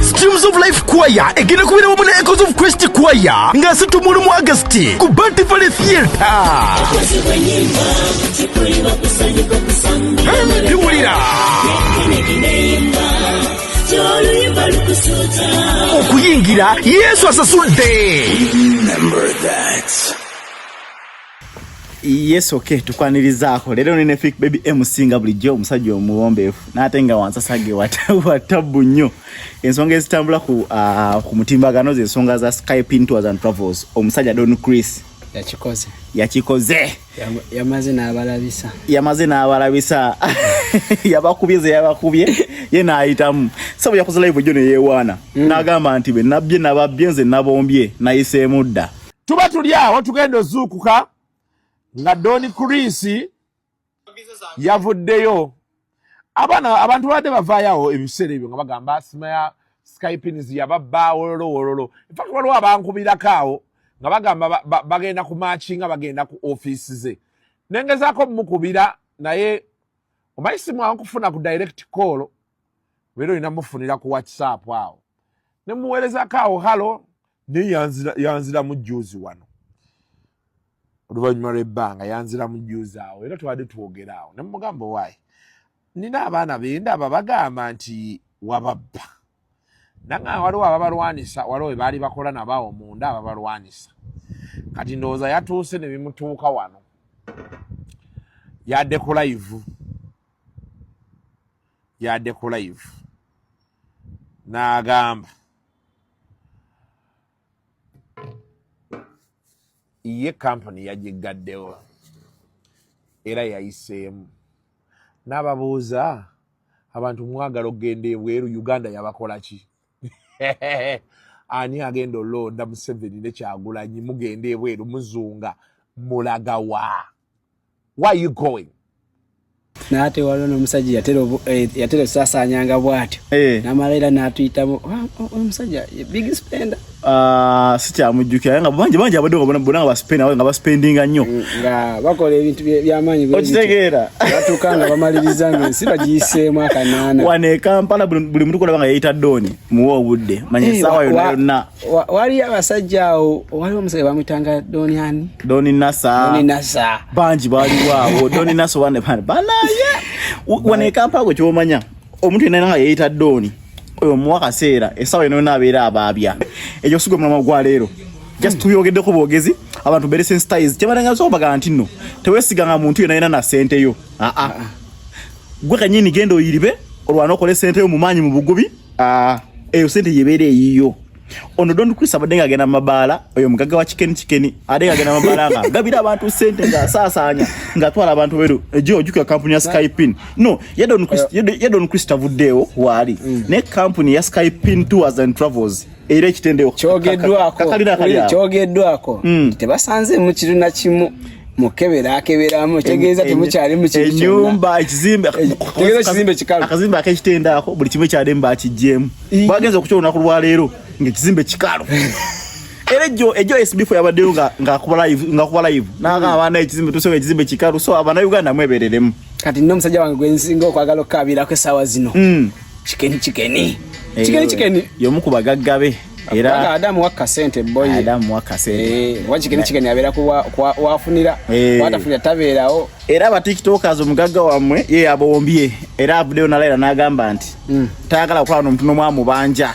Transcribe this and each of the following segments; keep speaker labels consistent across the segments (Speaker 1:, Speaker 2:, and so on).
Speaker 1: Streams of Life Choir egenda kubeera wamu ne Echoes of Christ Choir nga situmuulu mu Agasti ku Banty Valley Theatre. Biwulira okuyingira Yesu asasudde. Remember that.
Speaker 2: Yes okay tukwanirizaako leero nene fik baby emusinga bulijjo omusajja omuwombeefu n'ate nga wansasage watabbu nnyo ensonga ezitambula ku, uh, ku mutimbagano ze nsonga za skypin tours and travels omusajja don chris yakikoze yakikoze yamaze n'abalabisa yamaze n'abalabisa yabakubye ze yabakubye ye n'ayitamu sabu yakoze live jjo ne yeewaana mm. n'agamba nti be nabbye nababbye nze nabombye nayiseemu dda tuba tuli awo
Speaker 3: tugenda ozuukuka nga doni kurisi yavuddeyo abaana abantu babadde bavaayoawo ebiseera ebyo nga bagamba simaya skypins yababba wololo wololo infact waliwo abankubirako awo nga bagamba bagenda ku maaki nga bagenda ku ofiisi ze nengezaako mukubira naye omanyi simwangu kufuna ku direct call beera olina mufunira ku whatsapp awo nemuweerezako awo halo naye yanziramu juuzi wano oluvannyuma lw'ebbanga yanziramu juuzi awo era twali twogera awo ne mugamba owaayi nina abaana benda aba bagamba nti wababba nange waliwo ababalwanisa waliwo bebaali bakola nabo awo munda ababalwanisa kati ndowooza yatuuse ne bimutuuka wano yadde ku layivu yadde ku layivu n'agamba ye kampuni yagiggaddewo era yayiseemu n'ababuuza abantu mwagala okugenda ebweru uganda yabakola ki ani agenda olonda museveni nekyagulanyi mugenda ebweru muzunga mulagawa why are you going naye
Speaker 4: ate waliwo nomusajja yatera eh, osasaanyanga bwatyo eh. namala era natuyitamu omusajja big spender ah,
Speaker 2: sikyamujjukira naye nga bangi bangi abadde nga bona nga baspenda nga baspendinga nnyo mm, nga bakola
Speaker 4: ebintu byamaanyi okitegeera
Speaker 2: batuuka nga
Speaker 4: bamaliriza nga ensi bagiyiseemu akanaana wano ekampala
Speaker 2: buli mutu kolaba nga yeyita dooni muwa obudde manya esaawa eh, yonna yonna wali abasajja
Speaker 4: awo waliwo omusajja bamwitanga doni ani doni nasa doni
Speaker 2: nasa bangi baliwo awo doni nasa wane bana banaye wane kampala gwe kyomanya omuntu yenna nga yeyita doni oyo muwa kaseera esawa eno nabeera abaabya ekyo sigwe mulama gwa leero just tuyogeddeko bwogezi abantu bere sensitize kyebalanga so bagala nti no tewesiganga muntu yenna yenna na sente yo aa ah, ah. gwe kanyini genda oyiribe olwana okole sente yo mu maanyi mu bugubi Ah, eyo sente yebeera eyiyo ono don chris abadde nga agenda mumabaala oyo mugagga wa kikeni kikeni ade nga agenda mumabaala nga gabira abantu sente nga asaasaanya nga atwala abantu beru ejo ojukira kampuni ya skypin no ye don chris ye don chris tavuddeewo waali mm. naye kampuni ya skypin tours and travels era ekitendeo kyogeddwako
Speaker 4: hmm. tebasanze mu kiru na kimu mukebera akeberamu kitegeeza temukyali mukinyumba ekizimbe
Speaker 2: tegeeza kizimbe kikalu
Speaker 4: akazimbe akekitendo
Speaker 2: ako buli kimu ekyademu bakijjemu bagenza okukya olunaku lwaleero ngaekizimbe kikalu era ejo ejo esbifu yabaddeyo ngakuba live ngakuba live nanga abaana ekizimbe tusobola ekizimbe kikalu so abana uganda mwebereremu kati nno omusajja wange
Speaker 4: gwensinga okwagala okukabirako essaawa zino hmm. kikeni kikeni kikeni kikeni
Speaker 2: yomu ku bagagga be era adamu wakka sente
Speaker 4: boy adamu wakka sente eh wajikeni kikeni abera ku wafunira eh. watafunira tabeerawo era ba tiktokers
Speaker 2: omugagga wamwe ye abombye era abudeo nalaira nagamba nti mm. tayagala kukola n'omuntu n'omu amubanja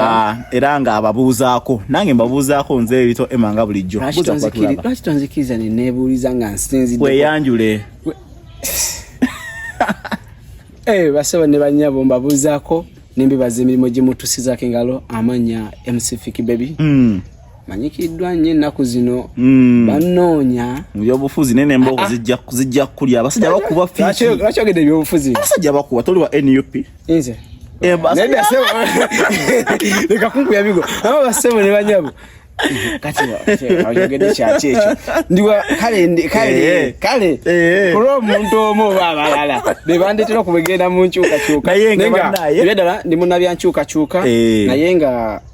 Speaker 2: Ah, era nga ababuuzaako nange mbabuuzaako nze ebito ema nga bulijjo lwaki
Speaker 4: tonzikiriza nenebuuliza nga nsinzidde weyanjule
Speaker 2: eh,
Speaker 4: basaba ne banyabo mbabuuzaako nembibaza emirimu gimutusizako engalo amanya mcfik baby hmm. manyikiddwa nnyo ennaku zino hmm. bannoonya mu byobufuzi naye
Speaker 2: nembogo ah, ah. zijja kukulya abasajja bakuba lwaki ogedde ebyobufuzi
Speaker 4: abasajja bakuba toli wa
Speaker 2: nup nze
Speaker 4: eh, leka kunkuya bigo aba basebo ne banyabo kati oyogedde kyaki ekyo ndiwa kale kale eh, kale eh, kulwa omuntu omu oba abalala bebandetera okubegenda mu nkyukakyuka naye nga ddala ndi munabyankyukakyuka naye nga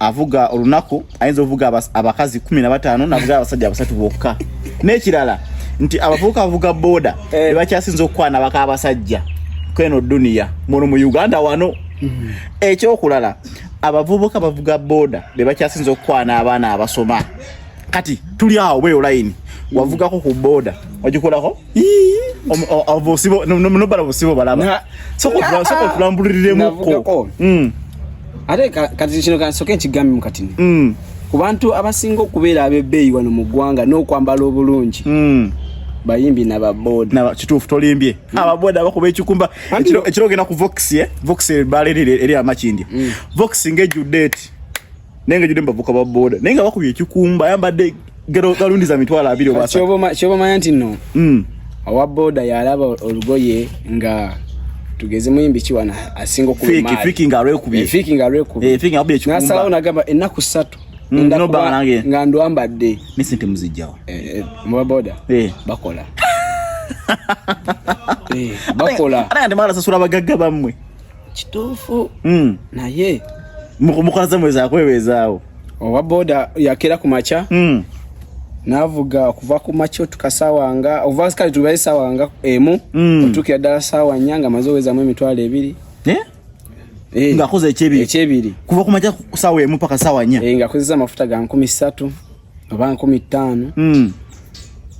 Speaker 2: avuga olunaku ayinza ovuga abakazi kumi na bataano navuga abasajja abasatu bokka n'ekirala nti abavubuka avuga boda eh. bebakyasinza okukwana baka abasajja kweno duniya muno mu uganda wano mm-hmm. ekyokulala abavubuka bavuga boda bebakyasinza okukwana abaana abasoma kati tuli awo bweyo layini wavugako ku boda ogikolako obusibo nobala busibo balaba sokotulambuliriremukko mm.
Speaker 4: ate kati kino kansoke nkigambe mukatini mm. ku bantu abasinga okubeera abebbeeyi wano mu ggwanga n'okwambala obulungi mm. bayimbi nababoda kituufu tolimbye
Speaker 2: mm. ababoda bakuba ekikumba ekiro ogenda ku vox eh? vox baleerire eri amakindi mm. vox ngejjudde eti naye nga judde mubavuka ba boda naye nga bakubye ekikumba ayambadde galundi za mitwalo abiri obakyobamanya nti no
Speaker 4: hmm. owa boda yalaba olugoye nga tugeze muyimbi ki wano asinga
Speaker 2: okubenasalaawo
Speaker 4: nagamba ennaku ssatu hmm,
Speaker 2: nga ndwambadde
Speaker 4: nesente muzijjawo
Speaker 2: eh, eh, muba boda
Speaker 4: eh. bakola bakola ate nga temwala sasula
Speaker 2: bagagga bammwe kituufu
Speaker 4: mm. naye mukola
Speaker 2: zamweza akwebezaawo owa boda
Speaker 4: yakera ku makya mm. navuga okuva ku makya otuka sawa nga ova kale tubaye sawa nga emu mm. otukira ddala sawa nnya nga maze owezamu emitwalo ebiri
Speaker 2: eh? Eh. ngakoze ekyebiri kuva ku makya sawa emu paka sawa nnya eh, ngakozesa amafuta ga nkumi
Speaker 4: ssatu oba nkumi ttaano hmm.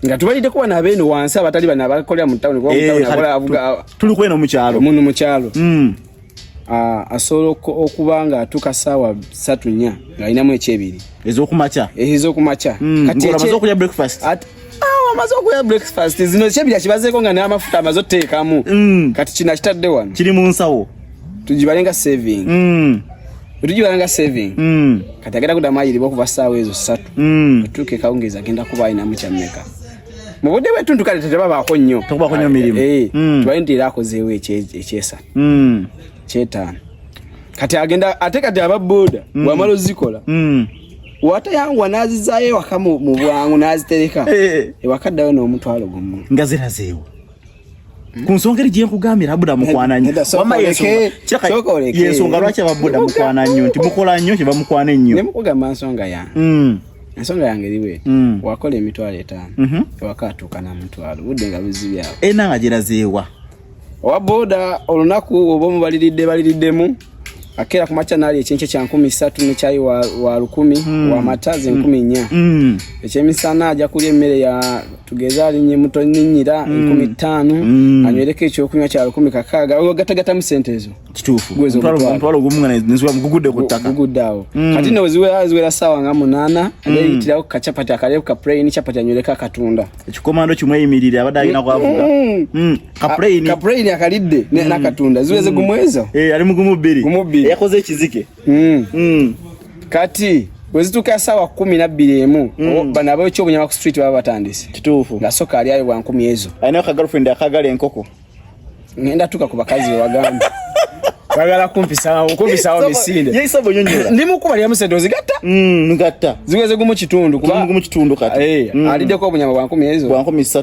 Speaker 4: nga tubaliddeko bano abeeno wansi abatali bano abakolera mu tawuni eh, tuli kweno mukyalo
Speaker 2: munu mukyalo hmm.
Speaker 4: ah, asobola okuba nga atuuka saawa satu nya ngaalinamu ekyebiri ezokumakya eh, ezokumakya hmm. amaze
Speaker 2: okulya breakfast amaze
Speaker 4: okulya breakfast zino ekyebiri akibazeeko nga n'amafuta amaze oteekamu kati kino akitadde wano kiri mu nsawo
Speaker 2: tugibalenga
Speaker 4: saving mm. tugibalenga saving mm. kati agenda kudamu ayiriba okuva saawa ezo satu mm. otuuka ekawungeezi agenda kuba alinamu kyammeka mu budde bwetuntu kale tetebabaako nnyo tekubaako nnyo mirimu eh, eh,
Speaker 2: mm. tubale nti era
Speaker 4: akozeewo ekyesatu mm. kyetaano kati agenda ate kati aba boda mm. wamala ozikola mm. watayanguwa nazizayo ewaka mu bwangu nazitereka eh. ewakaddayo n'omutwalo gumu nga zirazeewo
Speaker 2: ku nsonga eri gyenkugambira abuda mukwana nnyo wamma yensonga lwaki ababuda mukwana nnyo nti mukola nnyo kye bamukwana ennyo nemukugamba nsonga
Speaker 4: yange mm. ensonga yange eriwe mm. wakola emitwalo etaano mhm. ewaka atuuka na mutwalo budde nga buzibyawo ena nga gyerazeewa
Speaker 2: owa
Speaker 4: boda olunaku oba omubaliridde baliriddemu akera kumakya nali ekyenkye kya nkumi ssatu ne kyayi wa, wa lukumi mm. wa mata ze nkumi nnya mm. ekyemisana aja kulya emmere ya tugeze alinye muto ninyira mm. enkumi ttaano mm. anywereko ekyokunywa kya lukumi kakaaga ogatagatamu sente ezo kituufumutwalo
Speaker 2: gumu nga nezigugudde kuttaka gugudde awo mm. kati no
Speaker 4: ziwera saawa nga munaana ayeyitirako mm. kacapati akaleku ka puraini capati anywereko akatunda ekikomando kimu eyimirire
Speaker 2: abadde alina kwavuga mm. mm. kapulayini kapulayini akalidde
Speaker 4: mm. nakatunda ziweze mm. kumweza eh, ali mugumu bbiri
Speaker 2: gumu bbiri yakoze ekizike mm. kati
Speaker 4: wezituka sawa kumi na bbiri emu bano abekyobunyama ku street baba batandise kituufu nga soka ali
Speaker 2: ayo bwankumi
Speaker 4: ezo alinayo ka girlfriend akagala
Speaker 2: enkoko ngenda
Speaker 4: tuka ku bakazi wewagamba bagala kumpisawo kumpisawo misinde ye isabo nyonyola
Speaker 2: ndi mukuba lya musendo
Speaker 4: zigatta mm ngatta
Speaker 2: ziweze gumu kitundu
Speaker 4: kuba gumu kitundu kati eh
Speaker 2: mm. alideko obunyama bwa 10
Speaker 4: ezo bwa 13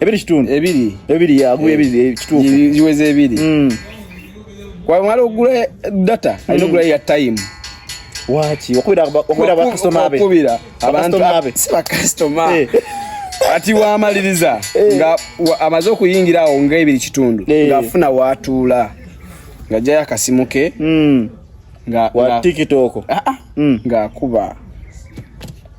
Speaker 2: ebiri kitundu ebiri ebiri yaguye
Speaker 4: eh, ebiri
Speaker 2: kituufu ziweze ebiri
Speaker 4: mm. kwamala okugula data alina okugula mm. ya time waki
Speaker 2: okubira bakasitoma be okubira abantu
Speaker 4: abe si bakasitoma eh. ati wamaliriza eh. nga amaze okuyingira awo nga ebiri kitundu ng'afuna watuula nga jayo akasimu ke mm. nga wa tiktok
Speaker 2: ah, ah. Mm. ng'akuba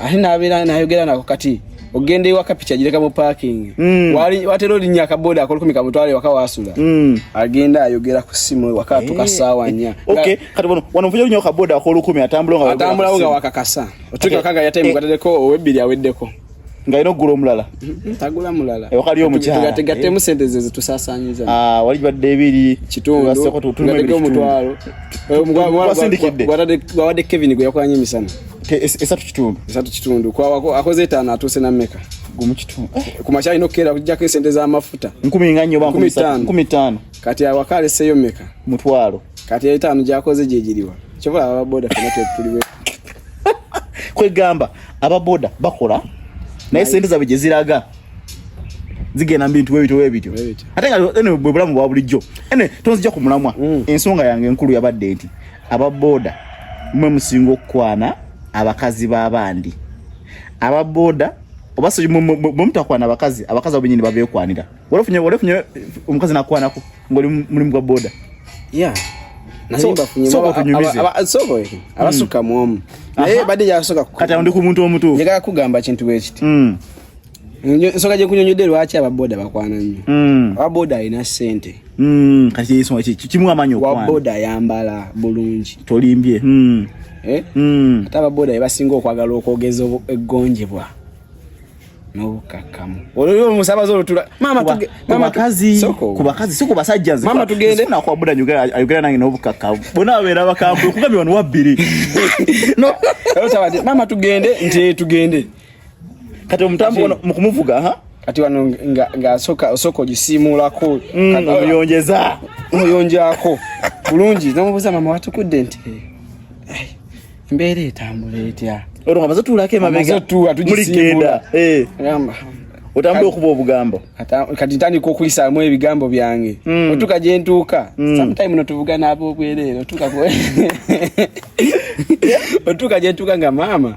Speaker 4: ate nabeera nayogera nako kati ogenda ewaka piki agireka mu parking mm. watera olinya akaboda akolukumi kamutwale ewaka wasula mm. agenda ayogera ku simu ewaka eh. atuka saawa nya
Speaker 2: wanovujalinyo kaboda akolukumi atambulaatambulawo nga wakakasa
Speaker 4: otukaga yataimu gatereko owebbiri aweddeko nga ino gula
Speaker 2: omulala mm-hmm. tagula mulala
Speaker 4: ewaka lyo omukyala
Speaker 2: tugatemu eh. sente ze
Speaker 4: zetusasanyiza ah, wali badde
Speaker 2: ebiri kitundu omutwalo
Speaker 4: eh, gwatadde kevin gwe yakwanya emisana esatu kitundu
Speaker 2: esatu kitundu
Speaker 4: kwawako akoze etaano atuuse na meka gumu kitundu
Speaker 2: eh. ku makya alina okukeera
Speaker 4: kujjako esente z'amafuta nkumi nga nnyo
Speaker 2: bankumi ttaano kati awaka
Speaker 4: aleseeyo meka mutwalo kati
Speaker 2: etaano
Speaker 4: gyakoze gyegiriwa kyobola ababoda fena tetuliwe
Speaker 2: kwegamba ababoda bakola naye sente zabwe gye ziraga zigenda mbintu webityo webityo ate nga bwe bulamu bwa bulijjo ene tonzija ku mulamwa mm. ensonga yange enkulu yabadde nti aba boda mwe musinga okukwana abakazi babandi aba boda oba so mumutakwana abakazi abakazi abo benyini babekwanira walafunye walafunye omukazi nakwanako ngoli mulimu gwa boda
Speaker 4: yeah abasuka mwomu naye bade yasoka kati ndi ku muntu omutuufu
Speaker 2: njagala kugamba kintu
Speaker 4: bwekiti mm. ensonga gyekunyonyodde lwaki ababoda bakwana nnyo mm. ababoda alina sente mm.
Speaker 2: kimu amanyi waboda ayambala
Speaker 4: bulungi tolimbye mm.
Speaker 2: eh?
Speaker 4: ate ababoda bebasinga okwagala okwogeza eggonjebwa nobukakkamu olwo omusabazi olutula mamaakazi
Speaker 2: si ku basajja nzemama tugende nakwabuda ayogera nange nobukakkamu bona babeera bakambwe okugambye wano wabbiri
Speaker 4: mama tugende nti tugende
Speaker 2: kati omutambo ono mukumuvuga ha kati wano nga nga
Speaker 4: soka osoko gisimuulako mm, kati oyonjeza
Speaker 2: oyonjako bulungi
Speaker 4: namubuza mama watukudde nti eh, mbeera etambula etya olwo amaze tuulako
Speaker 2: emabega muligenda eh. gamba
Speaker 4: otambula okuba
Speaker 2: obugambo kati ntandika
Speaker 4: okulisaamu ebigambo byange mm. otuka gyentuuka mm. sometime notuvuga naaba obwereere otuka gyentuuka nga maama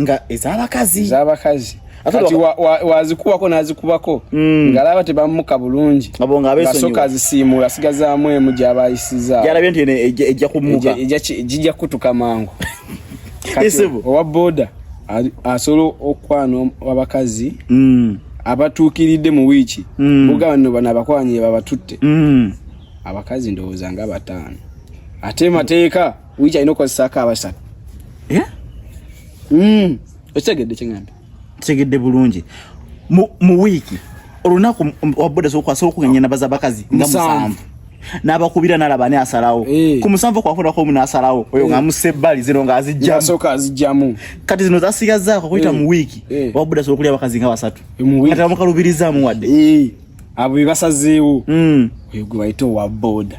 Speaker 4: nga
Speaker 2: ezabakazi ezabakazi kati
Speaker 4: wazikuwako wa, wa nazikubako mm. ngalaba tebamuka bulungi ngasoka azisiimuula asigazaamu emu gyabayisizagyalabye nti
Speaker 2: ejja kumuka gijja kutuka
Speaker 4: mangu owa boda asobola okukwana abakazi mm. abatuukiridde mu wiiki mm. buga banno bano abakwanye babatutte mm. abakazi ndowooza nga bataano ate mateeka wija alina okukozesaako abasatu eh? hmm. okitegedde kyengamba kitegedde bulungi
Speaker 2: mu wiiki olunaku wabuda sokwasooka okuganya nabaza abakazi nga musanvu n'abakubira nalaba ani asalawo eh. ku musanvu kwafunako omu n'asalawo oyo eh. nga musse ebbali zino nga azijjamusoka azijjamu
Speaker 4: kati zino
Speaker 2: zasigazaako kuyita mu wiiki wabuda sobola okulya abakazi nga basatu kati bamukalubirizaamu wadde abo bebasazeewo
Speaker 4: hmm. oyo gwe bayita owa boda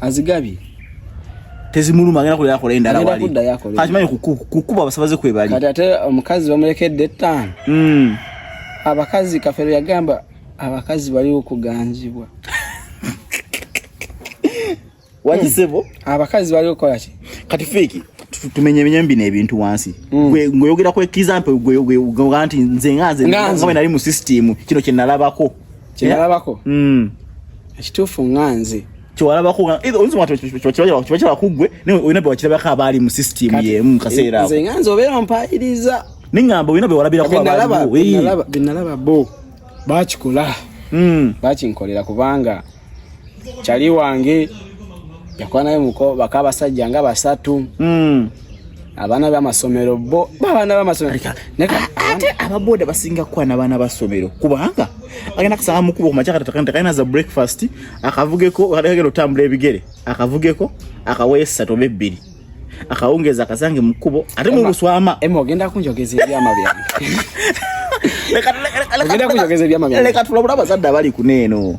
Speaker 4: azigabye
Speaker 2: tezimuluma agenda kulera akola endala wali kati manyi kukuba
Speaker 4: abasabaze
Speaker 2: kwebali kati
Speaker 4: ate
Speaker 2: omukazi
Speaker 4: bamulekedde
Speaker 2: ettaano
Speaker 4: hmm. abakazi kafero yagamba abakazi baliwo kuganzibwa
Speaker 2: wakisebo hmm. abakazi baliwo
Speaker 4: kukola ki kati feeki
Speaker 2: tumenyemenye bino ebintu wansi hmm. ng'oyogera ku example gweoga nti nze nga nze nga nali mu system kino kye nalabako kyalabako mm.
Speaker 4: ekituufu nga nze
Speaker 2: kyewalabako kiba kugwe naye olina bewakirabako abaali mu sisitimu yemu kaseera nze nga nze obeera
Speaker 4: mpaayiriza neŋŋamba olina
Speaker 2: bewalabirako abaalibenalaba bo
Speaker 4: bakikola mm. bakinkolera kubanga kyali wange yakwanayo muko bakabasajja nga basatu mm. abaana bamasomero bo babaana bamasomero ate
Speaker 2: ababoda basinga kukola nabaana basomero kubanga agenda kusanga mukuba kumakyakatakalina za breakfast akavugeko agenda otambula ebigere akavugeko akawayo esatu oba ebbiri akawungeza akasange mukubo ate mubuswama ema ogenda kunjogeza
Speaker 4: ebyama byange leka tulabula abazadde abali
Speaker 2: kuneeno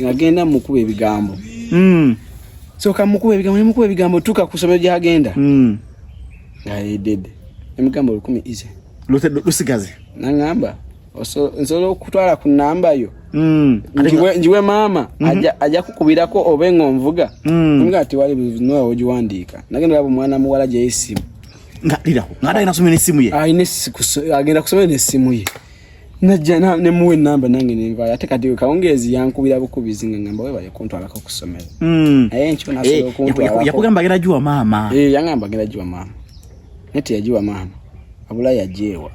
Speaker 4: ngagenda mukuba ebigambo mm. soka mukuba ebigambo nemukuba ebigambo tuka ku somero gyagenda mm. ngayedede emigambo lukumi ize lusigaze
Speaker 2: nangamba
Speaker 4: nsobola okutwala ku namba yo mm. njiwe maama mm -hmm. aja kukubirako obe nga onvuga mm. nga ati wali noa ogiwandiika nagenda olaba omwana muwala gyeyo esimu ngalirawo ngaate
Speaker 2: alina kusomera nesimu ye agenda
Speaker 4: kusomera nesimu ye najja na ne muwe namba nange ne nvaya ate kati kawongezi yankubira bukubizi nga ngamba wewe yakonto alaka kusomera mm aye ncho na solo eh, konto alaka yakugamba gira jua mama
Speaker 2: eh yangamba gira jua
Speaker 4: mama nete yajua mama abula yajewa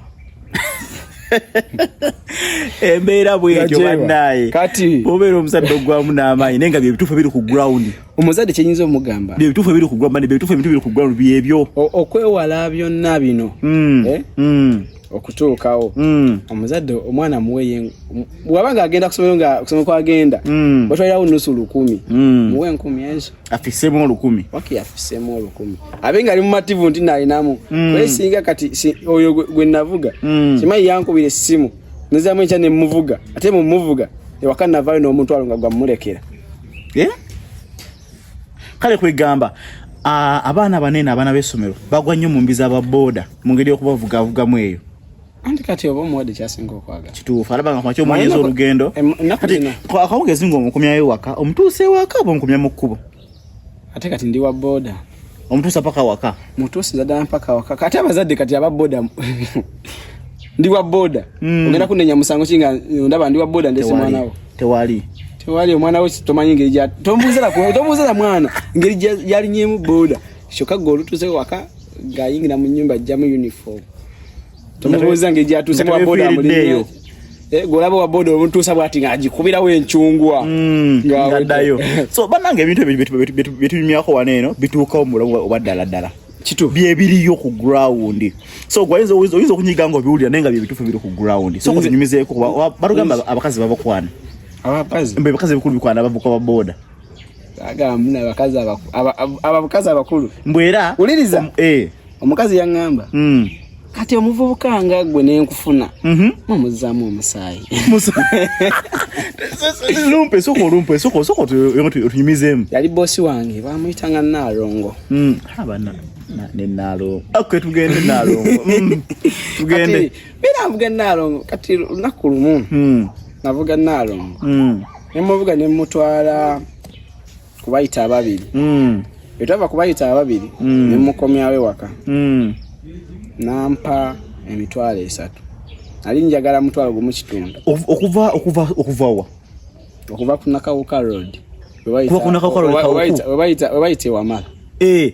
Speaker 2: embeera bwekyo bannaye kati obeera
Speaker 4: omusadde ogwamu
Speaker 2: n'amaanyi naye nga bye bituufu biri ku ground omuzadde kyenyinza
Speaker 4: omugamba byebituufu ebiri ku gwamani
Speaker 2: byebituufu ebintu biri ku gwamani byebyo okwewala
Speaker 4: byonna bino hmm. Eh? Hmm. okutuukawo hmm. omuzadde omwana muweye waba nga agenda kusomero nga kusoma kwagenda watwalirawo nusu lukumi muwe enkumi ezo afisemu olukumi
Speaker 2: waki afisemu
Speaker 4: olukumi abe nga ali mumativu nti nalinamu naye singa kati oyo gwe navuga kimanyi yankubira essimu nezamu enkya nemuvuga ate mumuvuga ewaka navayo n'omutwalo nga gwamulekera eh?
Speaker 2: kale kwegamba abaana banene abaana b'essomero bagwa nnyo mu mbi z'ababooda mu ngeri y'okubavugavugamu eyo anti kati oba
Speaker 4: omuwadde kyasinga okwagala kituufu alaba nga kwaki
Speaker 2: omwonyeza olugendo akawugezi ng'omukumyayo waka omutuusa ewaka oba omukumya mu kkubo ate kati
Speaker 4: ndi wa boda omutuusa paka
Speaker 2: waka mutuusiza ddala mpaka
Speaker 4: waka kati abazadde kati aba boda ndi wa boda mm. ogenda kunenya musango kinga ndaba ndi wa boda ndese mwanawo tewali tewali omwana we tomanyi ngeri gya tombuuzira tombuuzira mwana ngeri gyalinyemu boda kyokka gwe olutuuze waka ng'ayingira mu nyumba ajjamu uniform tumubuuza ngeri gyatuuse mu waboda mulimu Eh, golaba wa bodo omutuusa bwati nga agikubirawo enkyungwa mm, ngaddayo
Speaker 2: so banange ebintu ebyo byetunyumyako wano eno bituukawo mubulamu oba ddala ddala kitu byebiriyo ku ground so gwayinza oyinza okunyiga nga obiwulira naye nga byebituufu biri ku ground so kuzinyumizeeko kuba batugamba abakazi babakwana abakazi
Speaker 4: mbe abakazi bikulu bikwana
Speaker 2: abavuka ba boda agamba
Speaker 4: abakazi abakulu mbu era uliriza
Speaker 2: eh
Speaker 4: omukazi yaŋŋamba hmm. kati omuvubuka nga gwe nenkufuna mhm. mumuzaamu omusaayi
Speaker 2: lumpe soko lumpe soko soko tunyumizemu yali bosi
Speaker 4: wange bamuyita nga naalongo hmm.
Speaker 2: nenaalongo tugende naalongo hmm. tugende biravuga
Speaker 4: naalongo kati lunaku lumu navuga naalongo nemuvuga nemutwala kubayita ababiri mm. etava kubayita ababiri mm. nemukomyawo ewaka mm. nampa emitwalo esatu ali njagala mutwalo gumu kitundu okuva okuva okuvawa okuva kunakawuka road webayita ewamala
Speaker 2: eh.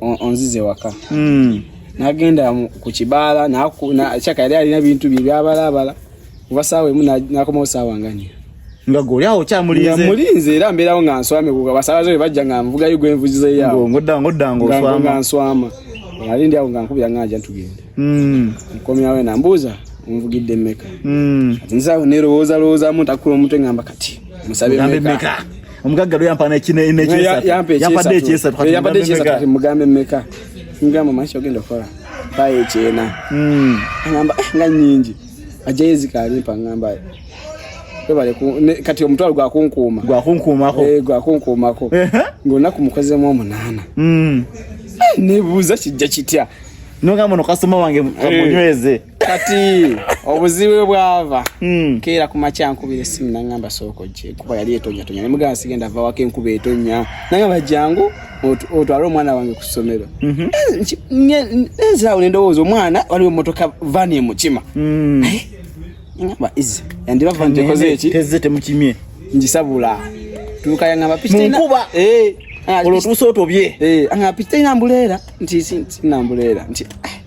Speaker 4: onzize waka hmm. nagenda ku kibaala kyaka yali alina bintu bye byabalaabala kuba saawa emu nakomawo saawa nganya nga goli awo
Speaker 2: kyamulinze mulinze era
Speaker 4: mbeerawo nga nswame kuga basaabaze bwe bajja nga nvugayo gwe nvuzize yawo ngoddangoddangaoswama
Speaker 2: nswama
Speaker 4: ali ndi awo nga nkubira nganja ntugenda hmm. nkomyawo ena mbuuza onvugidde mmeka hmm. ati nzaawo nerowoozalowoozamu ntakula omutwe ngamba kati musabe meka omugagga lwe
Speaker 2: yampa
Speaker 4: nekyesatuyampadde ekyesatu mugambe meka ngamba maisha ogenda okukola baye ekyena hmm. agamba eh, nga nyingi ajjayo ezikalimpa ngamba kati omutwalo gwakunkuuma gwakunkuumako eh, gwakunkuumako ngaolunaku mukozemu omunaana hmm. eh, nebuuza kijja kitya nogamba no
Speaker 2: kasoma wange munyweze kati
Speaker 4: obuzibu bwe bwava hmm. keera ku makya nkubira essimu nangamba sooka ojje kuba yali etonyatonya nemugamba sigenda va wako enkuba etonya nangamba jangu otwale omwana wange ku ssomero mhm. nzirawo nendowooza omwana waliwo emotoka vani emukima hmm. ngamba izi yandiba vani tekoze eki teze temukimye
Speaker 2: njisabula
Speaker 4: tuuka yangamba pikimunkuba eh.
Speaker 2: olwo tuusa otobye eh, angamba pikitalina
Speaker 4: mbuleera nti sinambuleera nti ah.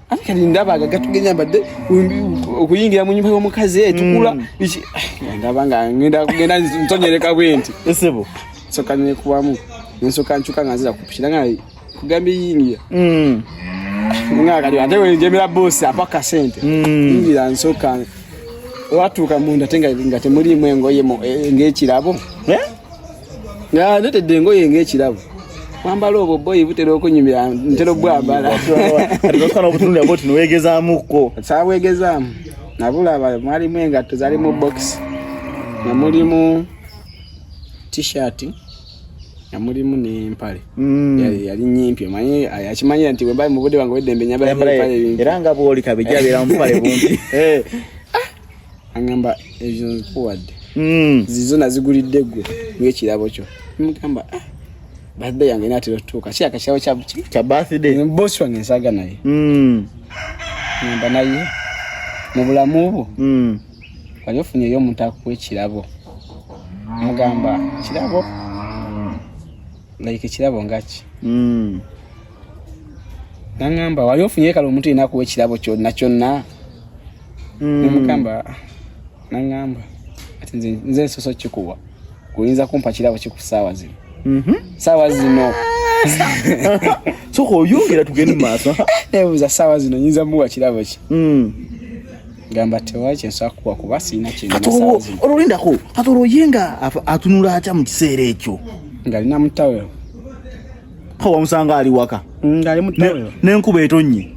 Speaker 2: ate kati ndaba
Speaker 4: aga gatugenya mbadde okuyingira mu nyumba y'omukazi etukula mm. ah, ndaba nga ngenda kugenda ntonyereka bwenti esebo
Speaker 2: nsoka nekubamu
Speaker 4: nensoka ncuka nga nzira kupikira nga kugambye yingira mm. nga kati ate wenjemera bosi apa kasente mm. yingira nsoka watuuka munda te nga temuliimu engoye eh, ng'ekirabo eh? nga netedde engoye ng'ekirabo kwambala obwo boyi butera okunyumira ntera obwambala
Speaker 2: tiwegezamuko sabwegezamu
Speaker 4: nabulaba mwalimu engatto zali mu box nga mulimu t-shirt nga mulimu n'empale mm. yali nyimpi omanyi akimanyira nti bwembali mu budde bange weddembe nyambala era nga bwoli kabija
Speaker 2: abeera mupale bumpi eh. angamba
Speaker 4: ezo nzikuwadde hmm. zizo nazigulidde gwe ngekirabo kyo mugamba ah, birthday yange natera otutuuka ki akakirabo kya birthday bosi
Speaker 2: wange nsaaga
Speaker 4: naye hmm. ngamba naye mu bulamu bwo hmm. wali ofunyeyo omuntu akuwa ekirabo mugamba kirabo like ekirabo ngaki nangamba wali ofunyeyo kale omuntu yena akuwa ekirabo kyonna kyonna mm. namugamba nangamba ati nze nze nsoso kikuwa kuyinza kumpa kirabo kikusaawa zino mm -hmm. saawa zino soka
Speaker 2: oyongera tugende mumaaso nebuuza saawa
Speaker 4: zino nyinza muwa kirabo ki mm. gamba tewaki nsobola kuwa kuba sirina kinolindako ati olwoye
Speaker 2: nga atunula atya mu kiseera ekyo ngalina
Speaker 4: mutaweo
Speaker 2: wamusanga ali waka mm, ngali mutaweo
Speaker 4: nenkuba etonnye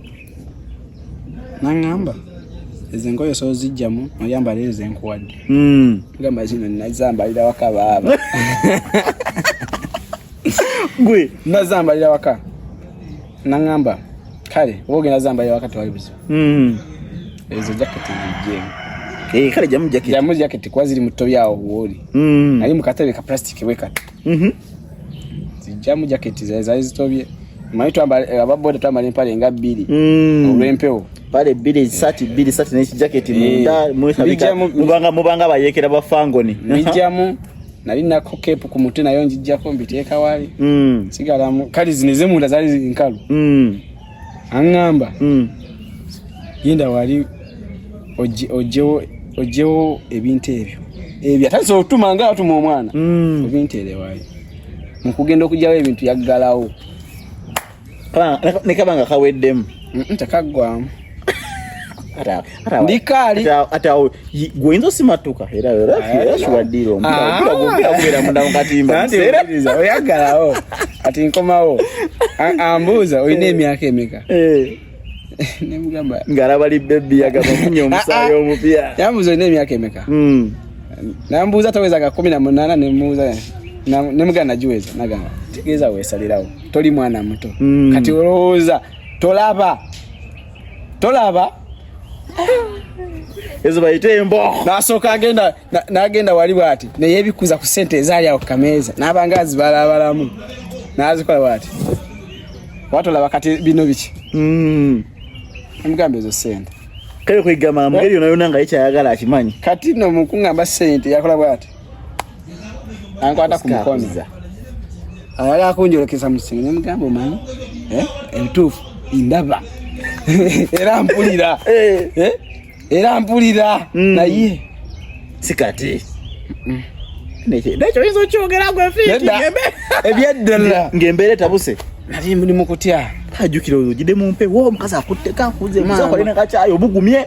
Speaker 2: nangamba
Speaker 4: ezo engoye sozijjamu oyambala ezo enkuwadde hmm. gamba zino nazambalira waka baaba
Speaker 2: gwe nazambalira waka
Speaker 4: nangamba kale oba ogenda zambalira waka tewali buzibu hmm. ezo jaketi zijjemu eh, kale jamu jaketi jamu
Speaker 2: jaketi kuba ziri mu tobi
Speaker 4: awo wooli hmm. nali mu katebe ka plastic wekati Mhm. Zijjamu jacket za za zitobye. Mmanyi twambala eh, ababoda twambala empale nga bbiri mm. olw'empewo pale bbiri ezisaati
Speaker 2: bbiri saati n'ekijaketi eh, munda mwesabika mubanga mubanga bayeekera
Speaker 4: ba
Speaker 2: fangoni mijjamu nali
Speaker 4: nako kepu ku mutwe nayo njijjako mbiteeka wali mm. sigalamu kale zino ezemunda zaali nkalu mm. aŋŋamba hmm. genda wali ojjewo ebintu ebyo ebyo atandise okutuma nga atuma omwana hmm. ebintu erewayo mukugenda okugyawo ebintu yaggalawo
Speaker 2: nekaba nga kaweddemu tekaggwamu
Speaker 4: ndikali ati awo
Speaker 2: gwenza osimatuka era era shiwadiro mpira mpira gwera munda mukatimba sereza oyagalawo
Speaker 4: ati nkomawo ambuuza olina emyaka emeka eh. nemugamba ngalaba li
Speaker 2: bebi yagamba munya omusaayi omupya yambuuza olina emyaka emeka
Speaker 4: hmm. nambuuza taweza ga kumi na munana nemuuza nemugana nagiweza nagamba tegeeza wesalirawo toli mwana muto hmm. kati olowooza tolaba tolaba
Speaker 2: ezo bayite embo nasooka agenda
Speaker 4: nagenda wali bwati neyebikuza ku sente ezaali awo kukameeza nabanga azibalabalamu nazikola bwati watolaba kati bino biki mm. emugamba ezo sente kale kwegamba
Speaker 2: mugeri yona yona nga yekyayagala akimanyi kati no mukungamba
Speaker 4: sente yakola bwati ankwata ku mukono ayala akunjolekesa musinga nemugamba omanyi eh? ebituufu ndaba era mpulira eh. Eh? era mpulira mm. naye sikati
Speaker 2: nekyo oyinza okyogera gwefiebyeddala
Speaker 4: ngaembeera etabuse
Speaker 2: nali muli mukutya
Speaker 4: ajukira ojide
Speaker 2: mumpe wo omukazi akutteko akuze omukazi akolina kakyayo obugumye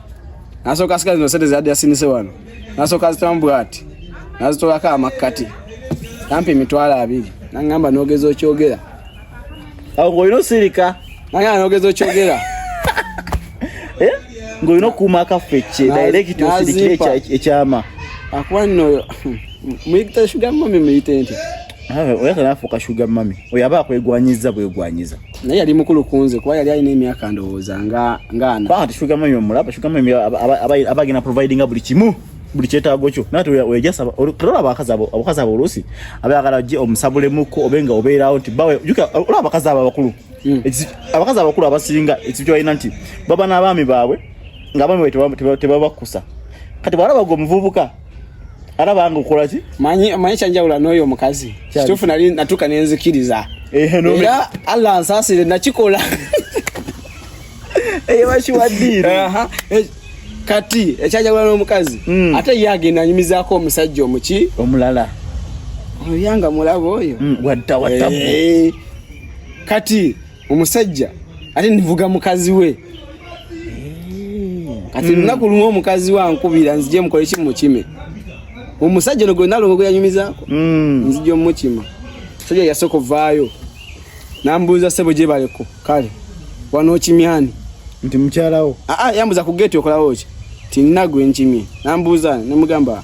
Speaker 4: nasooka sika zino sente zeyadde yasinise wano nasooka azitamu bwati nazitolako amakkati kampi emitwalo abiri nangamba nogeza okyogera
Speaker 2: ngaolina osirika nangamba nogeza
Speaker 4: okyogera eh?
Speaker 2: ngaolina okuuma akaffe ekye direct osirikire ekyama akuba nno
Speaker 4: muyita shugamami muyite nti Oyo atanafuuka
Speaker 2: shuga mami oyo aba akwegwanyiza bwegwanyiza naye yali mukulu
Speaker 4: kunze kuba yali alina emyaka ndowooza nga ngaana ati shuga mami omulaba
Speaker 2: shuga mami aba agenda providinga buli kimu buli kyetaago kyo nati wejasa olaba abakazi abo abakazi abo oluusi aba yagala gye omusabulemuko obe nga obeerawo nti bawe olaba abakazi abo abakulu hmm. abakazi abakulu abasinga ekintu kyobalina nti baba n'abaami baabwe ng'abaami bawe tebabakusa kati bwalaba gwe omuvubuka ara bangu kola ki manyi manyi chanja ula
Speaker 4: noyo mukazi kitufu nali natuka nenzikiriza eh no era Allah ansasire nakikola eye eh,
Speaker 2: bashi wadiri aha eh,
Speaker 4: kati echaja ula no mukazi mm. ate yage nanyumiza ko omusajja omuki omulala
Speaker 2: oyanga
Speaker 4: mulabo oyo mm, wadda watabu
Speaker 2: eh,
Speaker 4: kati omusajja ate nivuga mukazi we kati mm. lunaku lumu omukazi we ankubira nzije mukole ki mukime omusajja ono gwe nalongo gwe yanyumizaako mm. nzija omukima omusajja yasooka ovaayo nambuuza sebo gye baleko kale wano okimyani nti mukyalawo
Speaker 2: aa ah, ah, yambuza ku geeti
Speaker 4: okolawo ki tinina gwe nkimye nambuuza nemugamba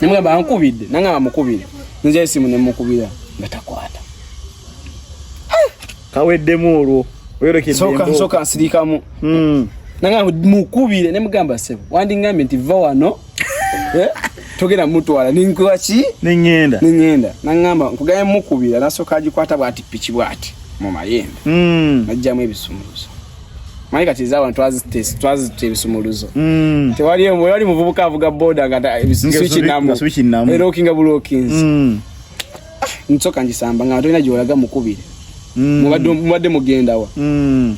Speaker 4: nemugamba ankubidde nangamba mukubire nze esimu nemukubira nga takwata
Speaker 2: kaweddemu olwo oyolekeddesoka
Speaker 4: nsirikamu hmm. nangamba mukubire nemugamba sebo wandingambye nti va wano eh? togenda mutwala ninkuba ki nengenda nengenda nangamba nkugaye mukubira nasoka agikwata bwati piki bwati mu mayembe mm. najjamu ebisumuluzo Mwaye kati za abantu azitest twazite bisumuluzo. Mm. Tewali yemu yali muvubuka avuga boda ngata switch namu. Switch namu. Ero kinga bulo kins. Mm. Ah, nsoka njisamba ngato ina jolaga mukubire. Mm. Mubadde mubadde mugenda wa. Mm.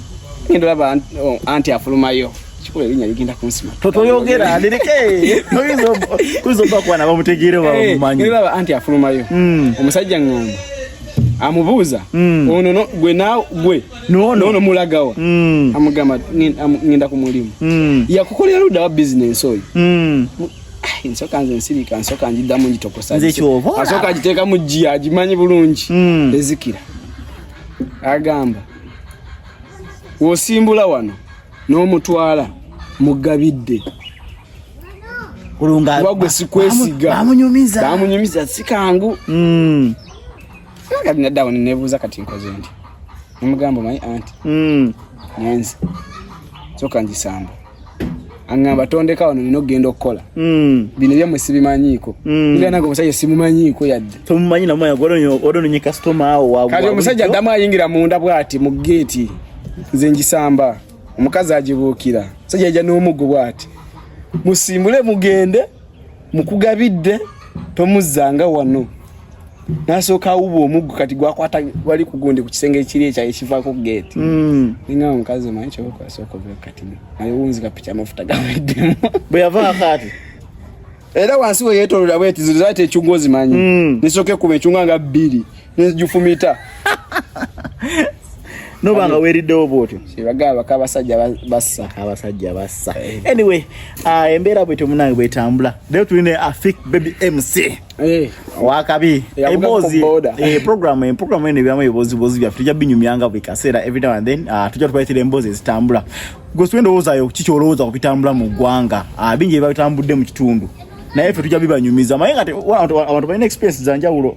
Speaker 4: Ngendo laba oh, anti afulumayo. Chikule linya ligenda kunsima. Toto yogera alirike.
Speaker 2: Noizo kuzo
Speaker 4: kwa kwa na
Speaker 2: bamutegire
Speaker 4: wa eh, mumanyi.
Speaker 2: Ngendo laba
Speaker 4: anti afulumayo.
Speaker 2: Mm.
Speaker 4: Omusajja
Speaker 2: ngomba.
Speaker 4: Amubuza. Mm. Ono no gwe na gwe. no no no mulagawa mm. amugamba ngenda ku mulimu mm. yakukolera luda wa business oyo mm. Ah, nsoka nze nsirika nsoka njiddamu njitokosa nze kyoba asoka ajiteeka mu jjiya agimanyi bulungi mm. ezikira agamba wosimbula wano n'omutwala mugabidde kulunga wagwe sikwesiga bamunyumiza bamunyumiza sikangu mm. kati nadda awo nebuuza kati nkoze nti nemugamba omanyi anti hmm. nyanzi soka ngisamba aŋamba tondeka wano nina okugenda okukola hmm. bino byamwe sibimanyiiko hmm. nganaga omusajja simumanyiiko yadde tomumanyi namumanyiodononye
Speaker 2: kasitoma awo kati omusajja addamu ayingira
Speaker 4: munda bwati mu geeti nze ngisamba omukazi agibuukira omusajja yaja n'omuggo bwati musimbule mugende mukugabidde tomuzzanga wano nasooka awuba omuggo kati gwakwata wali kugundi ku kisenge ekiri ekya ekivaako ku geeti hmm. ninga omukazi omanyi kyobakwasooka obe kati naye wunzika piki amafuta gaweddemu bwe yavaako
Speaker 2: ati era
Speaker 4: wansi weyetolola bwetiziriza ati ekyungu ozimanyi hmm. nisooka ekuma ekyungu nga bbiri nzijufumita
Speaker 2: nobanga weriddewo bwotyo bagamba baka abasajja
Speaker 4: bassa abasajja
Speaker 2: bassa eh. anyway uh, embeera bwetyo munange bwetambula leero tuli ne afik baby mc eh. wakabi emboozi eh, program program eno ebyamu ebiboozibozi byaffe tujja binyumyanga buli kaseera every now and then ah, tujja tubaletera emboozi ezitambula gwesiwe endowoozayo kiki olowooza ku bitambula mu ggwanga ah, bingi ebibabitambudde mu kitundu naye ffe tujja bibanyumiza maye nga abantu balina experience zanjawulo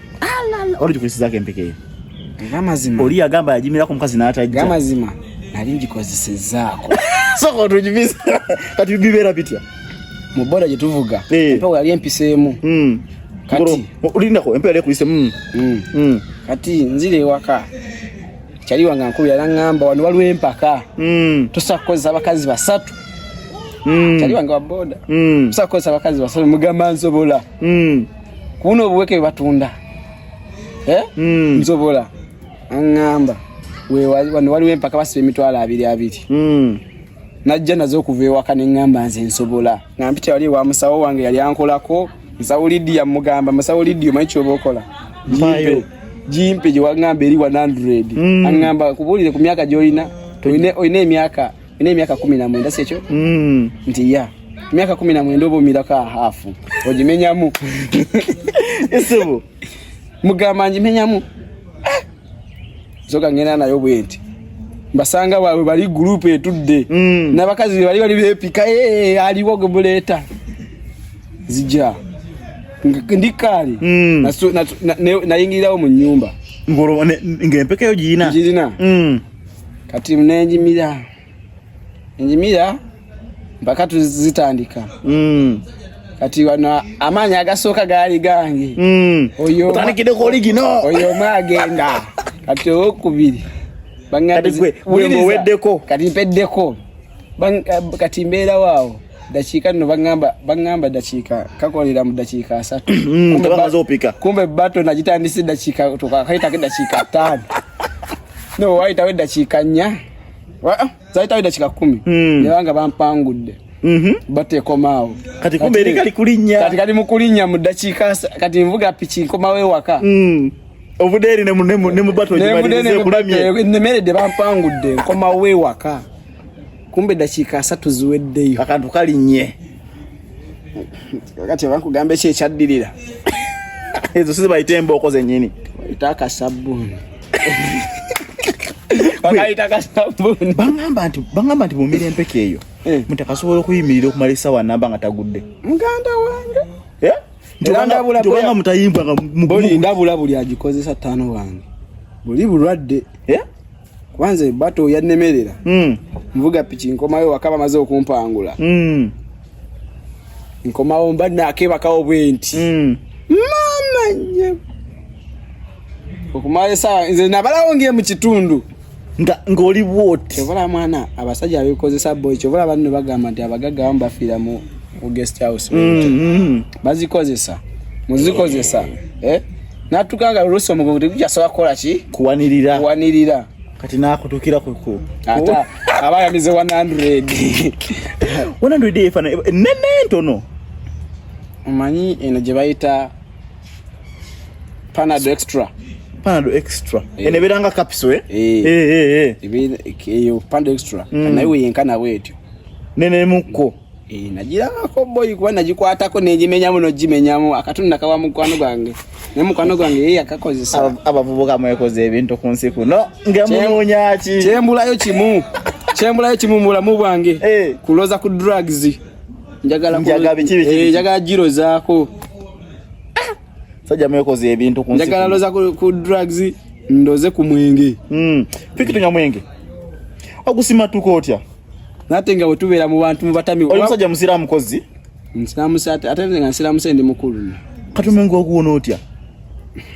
Speaker 2: oligikozesezako empeke eyo amazima
Speaker 4: oli yagamba yajimirako
Speaker 2: omukazi n'atajja amazima nali
Speaker 4: ngikozesezaako soka
Speaker 2: otujibiza kati bibeera bitya mu boda gye
Speaker 4: tuvuga eh. empewo yali empiseemu hmm. kati olindako empewo
Speaker 2: yali ekuliseemu hmm. hmm. kati
Speaker 4: nzira ewaka kyali wange nkulu yalaŋŋamba wano waliwo empaka tusobola kukozesa abakazi basatu kyali wange wa boda tusobola kukozesa abakazi basatu mugamba nsobola kuno obuweke batunda eh? mm. nsobola aŋŋamba wano waliwo empaka basiba emitwalo abiri abiri mm. najja nazo okuva ewaka neŋŋamba nze nsobola nga mpita wali ewa musawo wange yali ankolako musawo lidiya mugamba musawo lidiya omanyi kyoba okola jimpe gyewaŋŋamba eri 100 mm. aŋŋamba kubuulire ku myaka gyolina olina emyaka ina emyaka kumi na mwenda sekyo mm. nti ya emyaka kumi na mwenda oba omirako ahaafu ogimenyamu
Speaker 2: esibu
Speaker 4: mugamba ngimenyamu ah! zoka ngenda nayo bwenti mbasanga wawe bali gurupu etudde mm. nabakazi bebali bali bepika eh, aliwo gemuleeta zija ndikaali mm. nayingirirawo mu nyumba ngaempekayo
Speaker 2: girina girina mm.
Speaker 4: kati nenjimira enjimira mpaka tuzitandika mm. kati wano amaanyi agasooka gaali gange mm.
Speaker 2: otandikideko oligino oyo omu agenda
Speaker 4: kati owokubiri
Speaker 2: baweddeko kati mpeddeko
Speaker 4: Eh, kati mbeerawo awo dakiika nno baŋŋamba dakiika kakolera mu dakiika asatu mm, kumbe
Speaker 2: bato nagitandise
Speaker 4: dakiika twakayitako edakiika ttaano no wayitawo edakiika nnya ah, zayitawo edakiika kumi mm. nebanga bampangudde mhm. batekomaawo kati kumbe eri kali
Speaker 2: kulinnya kati kali mu kulinnya mu
Speaker 4: dakiika kati nvuga piki nkomawo ewaka mm. obudeeri
Speaker 2: nemubato nemudeeri nemubato nemeredde bampangudde
Speaker 4: nkomawo ewaka kumbe dakiika asatu ziweddeyo akantu kalinnye kati abankugamba eki ekyaddirira
Speaker 2: ezo si zibayita embooko zennyini bayita akasabbuuni
Speaker 4: bagamba nti bagamba
Speaker 2: nti mumira empeke eyo eh. muti akasobola okuyimirira okumala esawa namba nga tagudde muganda wange
Speaker 4: eh?
Speaker 2: ntibanga mutayimbwa nga ndabula buli
Speaker 4: agikozesa tano wange buli bulwadde eh? kwanza ebato yannemerera mm. nvuga piki nkomayo wakaba maze okumpangula mm. nkomawo mba nakebakawo bwenti mm. mama nye okumala esawa nze nabalawo nge mu kitundu nga
Speaker 2: ngoli bwoti obola mwana
Speaker 4: abasajja abekozesa boy kyobola banno bagamba nti abagagga bamu bafiira mu guest house mm, mm. bazikozesa muzikozesa eh? natuka nga oluusi omugongo tegukyasobola kukola ki kuwanirira kuwanirira kati
Speaker 2: nakutukira kuku ate aba
Speaker 4: yamize
Speaker 2: 100 100 efana nene ntono
Speaker 4: omanyi eno gye bayita panado extra panado extra
Speaker 2: eh. eno ebeera nga kapiso eh? eh.
Speaker 4: eyo panado extra mm. naye weyenkana bwetyo nenemuko
Speaker 2: Eh, nagirabako
Speaker 4: boyi kuba nagikwatako negimenyamu nogimenyamu akatuni nakawa mukwano gwange ne mukwano gwange ye yakakozesa abavubuka mwekoze
Speaker 2: ebintu ku nsi kuno ngemununyaki kyembulayo kimu kyembulayo kimu mu bulamu bwange eh. kuloza ku drugs njagala eh, girozaako sajja mwekoze ebintu ku nsi njagala loza ku
Speaker 4: drugs ndoze ku mwenge hmm. piki tunywa
Speaker 2: mwenge ogusimatuka otya nate nga
Speaker 4: wetubeera mu bantu mubatami oli musajja musiraamu kozi
Speaker 2: nsiraamu sate
Speaker 4: ate nze nga nsiraamu se ndi mukulu kati omenga okuwona
Speaker 2: otya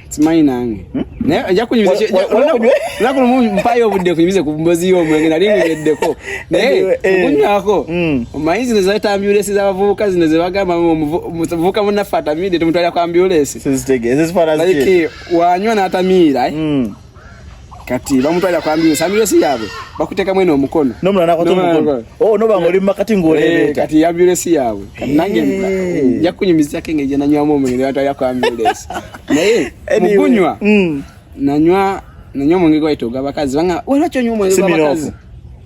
Speaker 2: simanyi
Speaker 4: nange hmm? naye ajja kunyumizaolunaku lumu mpayo obudde kunyumize ku mbozi y'omwenge nali nguyeddeko naye eh. okunywako hmm. omanyi zino zayita ambulensi z'abavubuka zino ze bagamba muvubuka munaffe atamidde tumutwalira ku ambulensi wanywa n'atamiira eh? hmm. kati bamutwalira kwa ambulensi ambulensi yaabwe bakuteekamu eno omukono
Speaker 2: oh, noba ngaoli mumakati ngaoleebeeta eh, kati ambulensi yaabwe
Speaker 4: kati nange eh. nja kukunyumizako engeri gye nanywamu omwenge nebatwalira kwa ambulensi naye mugunywa mm. nanywa nanywa omwenge gwayita ogwabakazi banga waliwo kyonywa omwenge gwabakazi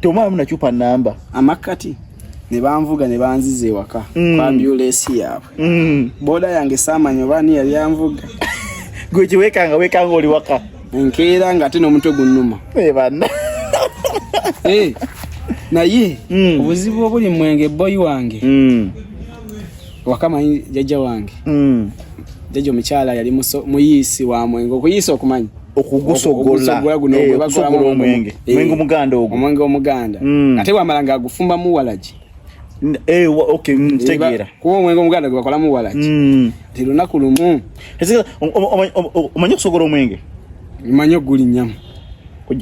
Speaker 4: tomwamu
Speaker 2: nacupa namba amakkati
Speaker 4: ne banvuga ne banziza ewaka mm. kwa ambulensi yaabwe mm. boda yange saamanya oba ani yali anvuga gwe
Speaker 2: kiwekanga wekanga oli waka enkeera nga ate
Speaker 4: n'omutwe gunnuma eh, banna
Speaker 2: eh,
Speaker 4: naye mm. obuzibu obuli mwenge boyi wange mm. wakamanyi jajja wange mm. jajja omukyala yali muyiisi wa mwenge okuyiisa okumanyi okugusogola
Speaker 2: eh, okusogola
Speaker 4: omwenge
Speaker 2: eh, omwenge omuganda ogwo omwenge
Speaker 4: omuganda hmm. ate wamala nga agufumbamu walagi eh,
Speaker 2: hmm, tegeera kuba omwenge omuganda gwe
Speaker 4: bakolamu walagi hmm. ti lunaku lumu
Speaker 2: omanyi okusogola omwenge manyi
Speaker 4: ogulinyamu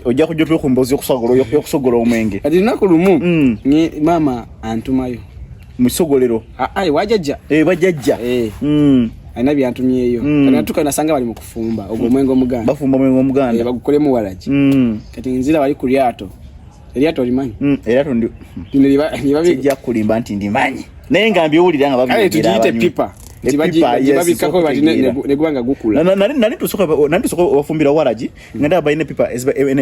Speaker 4: ojja kujja
Speaker 2: otwekumboozi yokusogola omwenge kati lunaku lumu
Speaker 4: maama antumayo musogolero
Speaker 2: ayi wajajja
Speaker 4: eh bajajja
Speaker 2: eh mm
Speaker 4: alina byantumyeyo mm. kanatuka nasanga bali mukufumba ogwo mm. mwengo muganda bafumba mwengo muganda eh
Speaker 2: bagukolemu walaji
Speaker 4: mm kati nzira bali kulyato elyato limanyi mm elyato ndi
Speaker 2: ndi liba liba bijja kulimba nti ndimanyi naye ngambi owulira nga babi kale tujite pipa
Speaker 4: tibajibabikako bati negwanga gukula nani tusoka
Speaker 2: nani tusoka wafumbira walaji nga ndaba balina pipa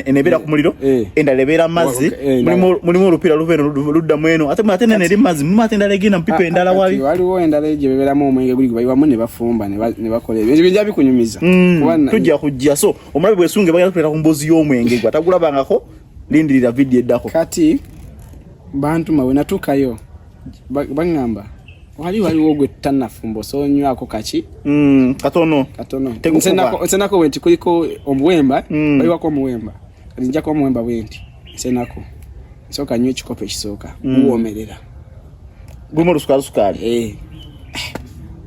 Speaker 2: enebeera ku muliro eh. endala ebeera mazzi eh, mulimu olupira luva eno ludda mu eno ate ate nene eri mazzi mulimu ate endala egenda mu pipa ah, endala ah, wali waliwo endala egyo
Speaker 4: bebeeramu omwenge guli gubayiwamu ne bafumba ne bakola ebyo ebyo bijja bikunyumiza hmm, tujja
Speaker 2: kujja so omulabe bwesunge bagenda kutuleeta ku mbuzi y'omwenge gwa tagulabangako lindirira vidiyo eddako kati
Speaker 4: bantuma wenatuukayo baŋŋamba wali waliwo gwe tutanafumba osobola onywako kaki mm, katono
Speaker 2: katono
Speaker 4: nsenako bwenti kuliko omuwemba mm. baliwako omuwemba nzijako omuwemba bwenti nsenako nsooka nyo ekikopo ekisooka mm. guwomerera
Speaker 2: gumu olusukalusukaali eh.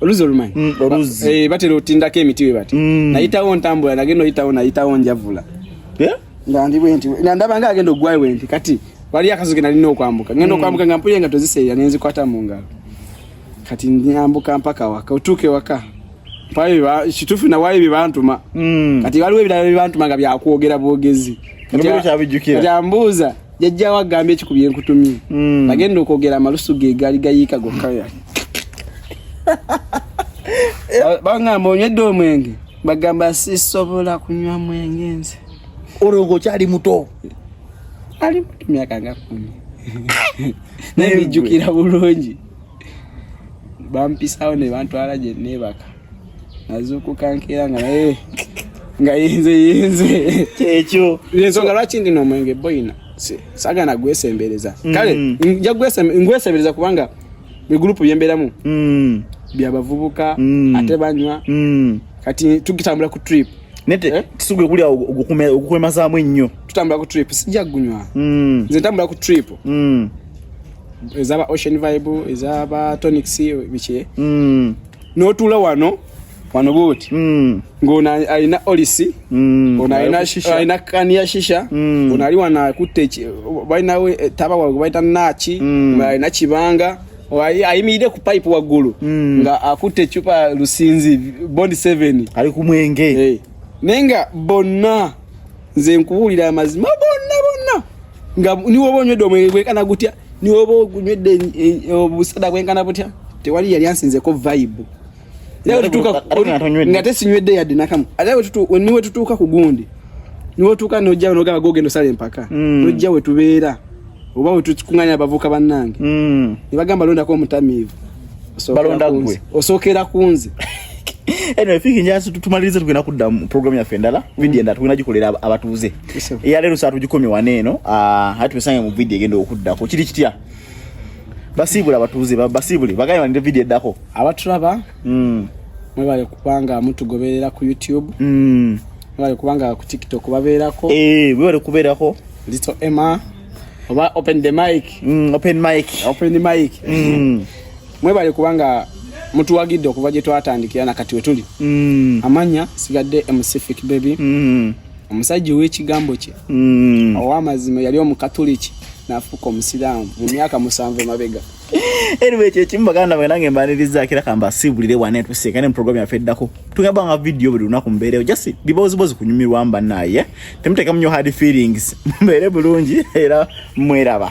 Speaker 4: oluzi olumanyi mm, oluzi eh, batera otindako emiti we bati mm. nayitawo ntambula nagenda oyitawo nayitawo njavula eh? nga ndi bwenti nga ndaba nga agenda ogwayo bwenti kati waliyo akazi ke nalina okwambuka ngenda mm. okwambuka nga mpuye nga toziseera ne nzikwata mu ngalo kati nyambuka mpaka waka otuuke waka mpayo kituufu nawayo bye bantuma kati waliwo ebirala bye bantuma nga byakwogera bwogezi kati ambuuza jajja wa gambye kikubye nkutumye mm. bagenda okwogera amalusu ge gali gayiika gokka ya bangamba onywedde omwenge bagamba sisobola kunywa mwenge nze
Speaker 2: olwo ngaokyali muto ali
Speaker 4: muto myaka nga kumi naye bijjukira bulungi bampisawo ne bantwala gye neebaka nazuukuka nkeera nga naye nga yinze yinze kyekyo
Speaker 2: ensonga lwaki ndina
Speaker 4: omwenge boyina sagana gwesembereza mm. kale nja ngwesembereza kubanga egurupu byembeeramu mm. byabavubuka mm. ate banywa kati tugitambula ku trip nete eh? tusuge
Speaker 2: kulya okukwemazaamu ennyo tutambula ku trip sijja
Speaker 4: kugunywa nze ntambula ku trip ezaba ocean vibe ezaba tonics biki n'otuula wano wano bwoti mm. ng'ono alina olisi mm. ono alina kani ya shisha mm. ono ali wano akutte balina eh, taba wawe bayita naaki alina kibanga ayimirire ku pipe waggulu nga akutte ecupa lusinzi bond 7 ali ku mwenge eh.
Speaker 2: naye nga
Speaker 4: bonna nze nkubuulira amazima bonna bonna nga niwoba onywedde omwenge gwekana gutya niwe oba ogunywedde obusada bwenkana butya tewali yali ansinzeko vibe nga tesinywedde yadde nakamu ate niwe tutuuka ku gundi niwe otuuka nojja nogamba gogenda osala empaka mm. nojja wetubeera oba wetukunganya abavuka bannange mm. nebagamba londako omutamiivu balonda
Speaker 2: gwe osokera kunze
Speaker 4: anyway
Speaker 2: fiki njasi tumalirize tugenda kudda mu program yaffe endala mm. video endala tugenda gikolera abatuuze eya leero saa tugikomye wano eno ah, ate tusange mu video egenda okuddako kiri kitya basiibule abatuuze basiibule bagaye banire video eddako abatulaba
Speaker 4: mm. mwebale kubanga mutugoberera ku youtube mm. mwebale kubanga ku tiktok babeerako eh, mwebale kubeerako
Speaker 2: little emma
Speaker 4: oba open the mic mm, open mic
Speaker 2: open the mic mm.
Speaker 4: mwebale kubanga mutuwagidde okuva gye twatandikira na kati wetuli mm. amanya sigadde emusific baby mm. omusajja ow'ekigambo kye mm. ow'amazima yali omukatuliki nafuuka omusiraamu mu myaka musanvu emabega anyway
Speaker 2: kyekimu baganda mwe nange mbaniriza kira kamba sibulire wane tuseka ne program ya feddako tugamba nga video buli lunaku mbeerewo just bibozi bozi kunyumirwa mba naye temutekamu nyo hard feelings mbeere bulungi era mweraba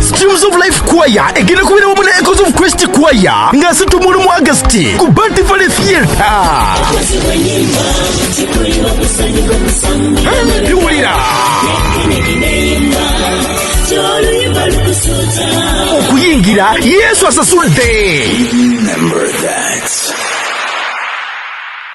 Speaker 1: Streams of Life Choir egenda kubira wamu ne Echoes of Christ Choir nga situmuulu mu Augusiti ku Bati Valley Theatre. Biwulira okuyingira Yesu asasudde.